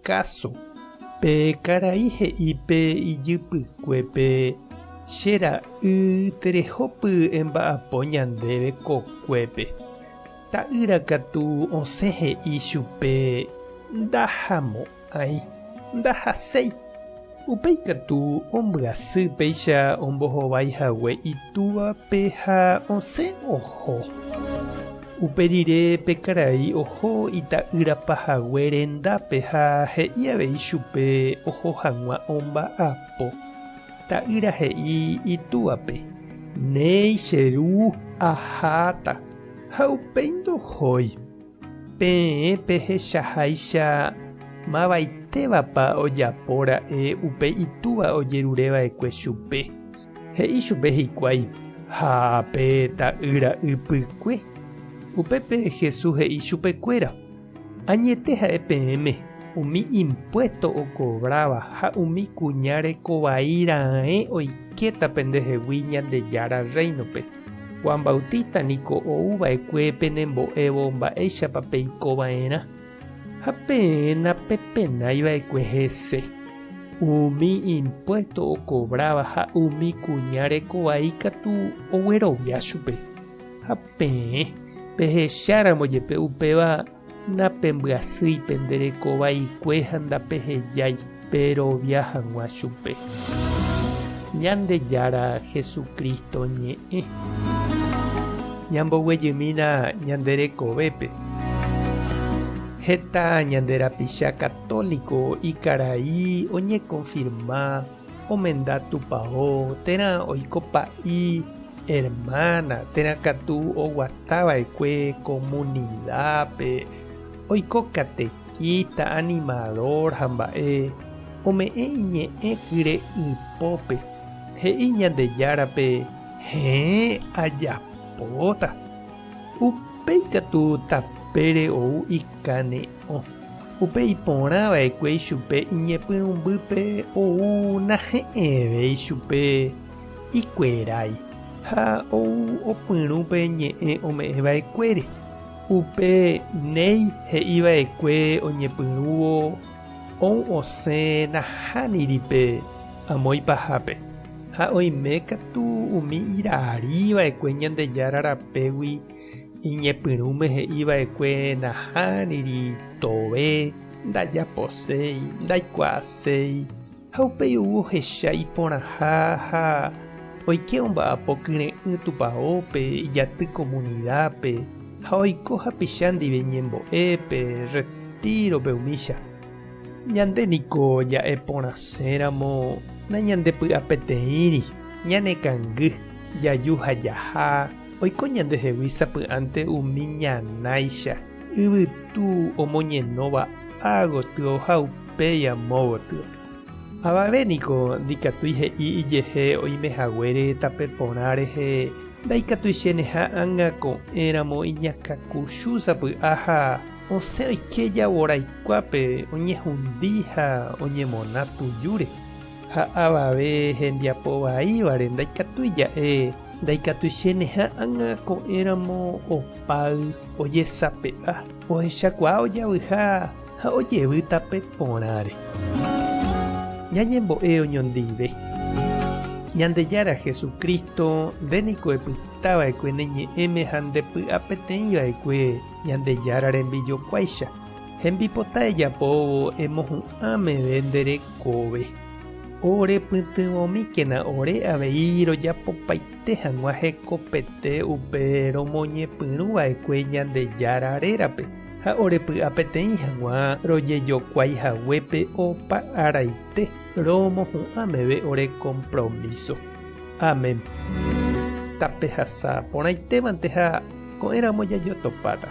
Káso, Pe karai he'i pe ijypykuépe, Che ra'y, terehópy emba'apo ñandéve ko kuépe. Ta'ýra katu osẽ he'i chupe, Ndahamo'ãi. Ndahaséi. Upéi katu ombyasy péicha ombohovái hague itúvape ha osẽ oho. Upe rire pe karai oho ita'ýra pahague rendápe ha he'i avei chupe oho hag̃ua omba'apo. Ta'ýra he'i itúape, Néi, che ru, aháta. Ha upéi ndohói. Peẽ pehechaháicha mavaitévapa ojapo ra'e upe itúva ojerureva'ekue chupe. He'i chupe hikuái ha pe ta'ýra ypykue. Upépe Jesús he'i chupekuéra, Añete ha'e peẽme, umi impuésto okovráva ha umi kuña reko vai raẽ oikéta pendehegui Ñandejára Rréinope. Juan Bautista niko ou va'ekue penembo'évo mba'éichapa peiko va'erã. Ha peẽ napepenái va'ekue hese, umi impuésto okovráva ha umi kuña reko vai katu oguerovia chupe. Ha peẽ pehecháramo jepe upéva napembyasýi pende reko vaikue ha ndapehejái. Perovia hag̃ua chupe. Ñandejára Jesucristo ñe'ẽ. Ñamboguejymína ñande rekovépe. Heta ñande rapicha católico ikarai oñekonfirma omenda Tupao térã oiko pa'i hermana térã katu oguatava'ekue comunidad-pe oiko kate. Híta animadór ha mba'e ome'ẽ iñe'ẽ kyre ypópe, he'i Ñandejárape, Heẽ, ajapóta. Upéi katu tapére ou ikane'õ, upe iporã va'ekue ichupe iñepyrũmbýpe ou nahe'ẽvéi chupe ikuerái ha ou opyrũ pe ñe'ẽ ome'ẽ va'ekuére. Upe néi he'i vaekue oñepyrũvo ou osẽ nahániri pe amo ipahápe, ha oime katu umi irarí vaekue Ñandejára rapégui iñepyrũme he'i vaekue nahániri tove, ndajaposéi, ndaikuaaséi, Ha upéi ou ohecha iporãha ha oike omba'apo kyre'ỹ tupaópe, ijaty komunidápe, ha oiko hapicha ndive ñembo'e pe retírope umícha. Ñande niko ja'e porãséramo nañandepy'apeteĩri, ñanekangy, jaju ha jaha, oiko ñande hegui sapy'ánte umi ñanáicha, yvytu omoñenóva ágotyo ha upéi. péi amo gotýpe. Avave niko ndikatúi he'i ijehe oime haguére tape porã rehe ndaikatuichéneha ág̃a ko'ẽramo iñakãkuchu sapy'aha osẽ oike jaguaraikuápe oñehundi ha oñemona tujúre. Ha avave hembiapo vaívare ndaikatúi ja'e ndaikatuichéneha ág̃a ko'ẽramo opáy ojesape'a ohechakuaa ojavyha Ha ojevy tape porãre. Ñañembo'e oñondive. Ñandejára Jesucristo, nde niko epytava'ekue ne ñe'ẽme ha nde py'apeteĩva'ekue Ñandejára rembijokuáicha. Hembipota ejapóvo emohu'ã meve nde rekove. Orepytyvõmíkena ore avei rojapopaite hag̃ua hekopete upe romoñepyrũva'ekue Ñandejára rérape. ha orepy'a peteĩ hag̃ua rojejokuái haguépe opa araite romohu'ã meve ore kompromíso. Amén. Tapehasa porãitévante ha ko'ẽramo jajotopáta.